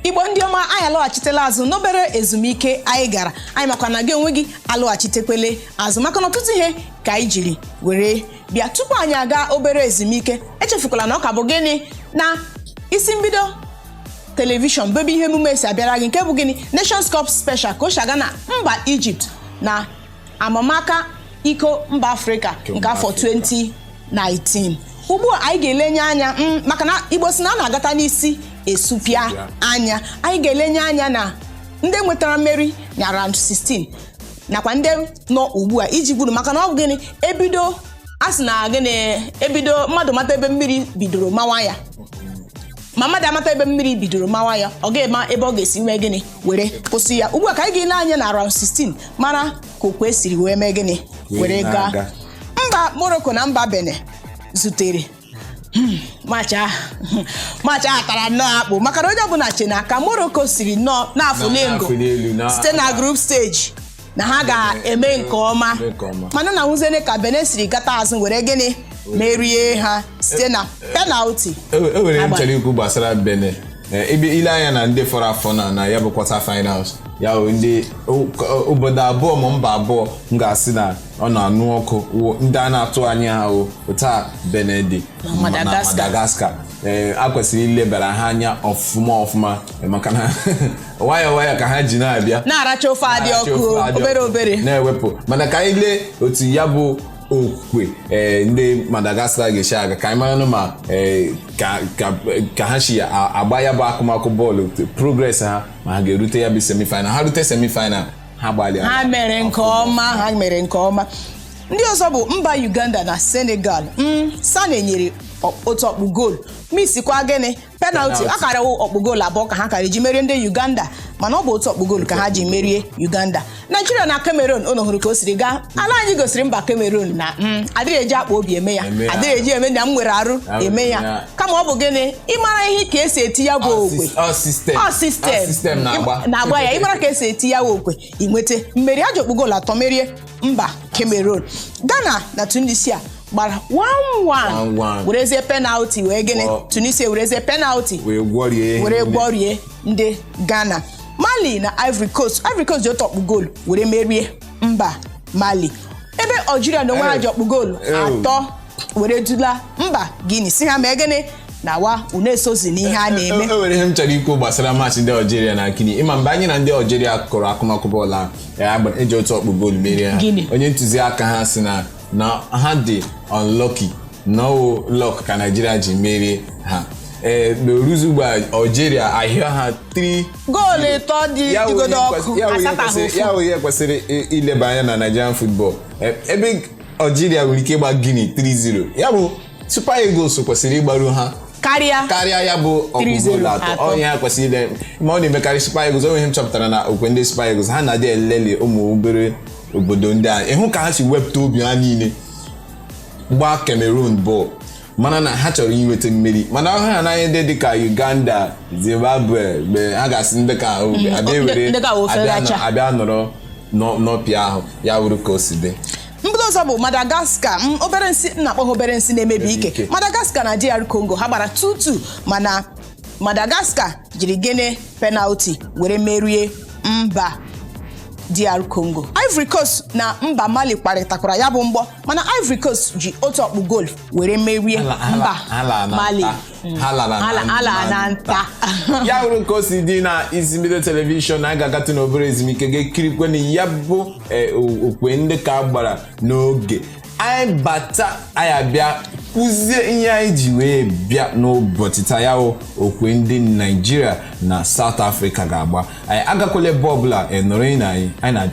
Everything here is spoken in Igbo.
igbo ndị ọma anyị alọghachitela azụ n'obere ezumike anyị gara anyị makwa na gị onwe gị alọghachitekwele azụ maka na ọtụtụ ihe ka anyị jiri were bịa tupu anyị aga obere ezumike echefukwala na ọ ka bụ gịnị na isi mbido telivishọn bụ ebe ihe emume a si abịara gị nke bụ gịnị Nations Cup Special ka o shi aga na mba Ijipt na amamaka iko mba afrịka nke afọ 2019 ugbu a anyị ga-elenye anya mm, maka na igbo si na a na-agata n'isi esupịa anya anyị ga-elenye anya na ndị nwetara mmeri na round 16 nakwa ndị nọ ugbu a iji gburu maka na ọ bụ gịnị ebido a sị na gịnị ebido mmadụ mata ebe mmiri bidoro mawa ya ma mmadụ amata ebe mmiri bidoro mawa ya ọ ga-ema ebe ọ ga-esi mee gịnị were kwụsị ya ugbu a ka anyị ga-ele anya na round 16 mara ka okwe siri wee mee gịnị Wee were gaa na-aga. mba morocco na mba benin zutere Hmm, match ahụ match ahụ tara nnọọ akpụ maka na onye ọbụla che na ka morocco siri nnọọ na-afụ Na- n'elu na-afụ n'elu, na- site na group stage na ha ga-eme nke ọma Mee nke ọma. mana na nwuzene ka Benin siri gata azụ were gịnị merie ha site na penalti E e nwere Agba. m chọrọ ikwu gbasara Benin Eh, ebe i lee anya na ndị fọrọ afọ na na ya bụ quarter finals ya bụ ndị o- ka- obodo abụọ ma mba abụọ m ga-asị na ọ na-anụ ọkụ wụ ndị a na-atụ anya ha o otu a Benin dị Na ma- na Madagascar. Madagascar ee a kwesịrị ilebara ha anya ọfụma ọfụma maka na nwayọọ nwayọọ ka ha ji na-abịa na-aracha ofe dị na-achọ ọkụ ofe dị obere ọkụ, obere na-ewepụ mana ka anyị lee otu ya bụ okwe ee, ndị madagascar ga-esi aga ka anyị maranụ ma ee, ka- ka- ka ha si a- agba ya bụ akụmakụ bọọlụ progress ha ma ha ga-erute ya bụ semifinal ha rute semifinal ha gbalịa ha mere nke ọma ha mere nke ọma ndị ọzọ bụ mba uganda na senegal mm, sane nyere ọ- otu ọkpụ goolu misikwa gịnị penalti Penalty. akara ọkpụ goolu abụọ ka ha kara ji merie ndị uganda mana ọ bụ otu ọkpụ goolu ka ha ji merie uganda naijiria na cameroon unu hụrụ ka o siri gaa ala anyị gosiri mba cameroon na mm, adịghị eji akpa obi eme ya Eme ya. adịghị eji eme na m nwere arụ Arụ eme ya ya. kama ọ bụ gịnị ịmara ihe ka esi eti ya bụ okwe Ọ sistem. ọ sistem Ọ sistem na-agba. Ịma- na-agba ya ịmara ka esi eti ya bụ okwe i nweta mmeri e ji ọkpụ goolu atọ merie mba Cameroon Ghana na Tunisia gbara 1-1 1-1. werezie penalti wee gịnị Ọ- Tunisia werezie penalti Wee gwọrie ihe were niile. gwọrie ndị Ghana Mali na Ivory Coast Ivory Coast ji otu ọkpụ goolu were merie mba mali ebe algeria na onwe ha ji ọkpụ goolu atọ were dula mba guinea sị ha mee gịnị nawa unu esozi n'ihe a na-eme e nwere ihe m chọrọ ikwu gbasara match ndị algeria na guinea ị ma mgbe anyị na ndị algeria kụrụ akụmakụ bọọlụ ahụ e ji otu ọkpụ goolu merie ha onye ntụziaka ha sị na ha dị unlucky na ọ wụ luck ka naijiria ji merie ha ee na oruzi ugbu a algeria ahịa ha 3 goolu ịtọ dị ya dịgodo wụ ọkụ ihe kwesịrị- ya wụ ihe asataghị kwesịrị- ofu ya wụ ihe kwesịrị i- ileba anya na Nigerian football E- ebe Algeria nwere ike ịgba Guinea 3-0 ya bụ Super Eagles kwesịrị ịgbaru ha karịa karịa ya bụ ọkpụ 3-0 goolu atọ atọ. onye ha kwesịrị ile ma ọ na-emekarị Super Eagles o nwe ihe m chọpụtara na okwe ndị Super Eagles ha na-adị eleli ụmụ obere obodo ndị a ị hụ ka ha si wepụta obi ha niile gbaa Cameroon bọọlụ mara na ha chọrọ inweta mmeri mana ọ wụrụ ha na ndị dịka Uganda Zimbabwe mgbe ha ga-asị ndị ka ahụ mm, abịa were abịa nọrọ n'ọpịa ahụ ya wụrụ ka o si dị mba ọzọ bụ Madagascar obere nsị m na-akpọ ha obere nsị na-emebi ike Madagascar na DR Congo ha gbara 2-2 mana Madagascar jiri gịnị penalty were merie mba DR Congo Ivory Coast na mba Mali kwarịtakwara ya bụ mgbọ mana Ivory Coast ji otu ọkpụ goolu were merie mba Mali ha ala na nta ya bụrụ ka o si dị na isi mbido telivishọn na a ga-agatụ n'obere ezumike ga-ekirikwe na ya bụ eh, o- okwe ndị ka a gbara n'oge anyị bata anyị abịa kwuzie ihe anyị ji wee bịa n'ụbọchị taa ya bụ okwe ndị naijiria na south africa ga-agba anyị agakwala ebe ọbụla nọrọ na anyị anyị na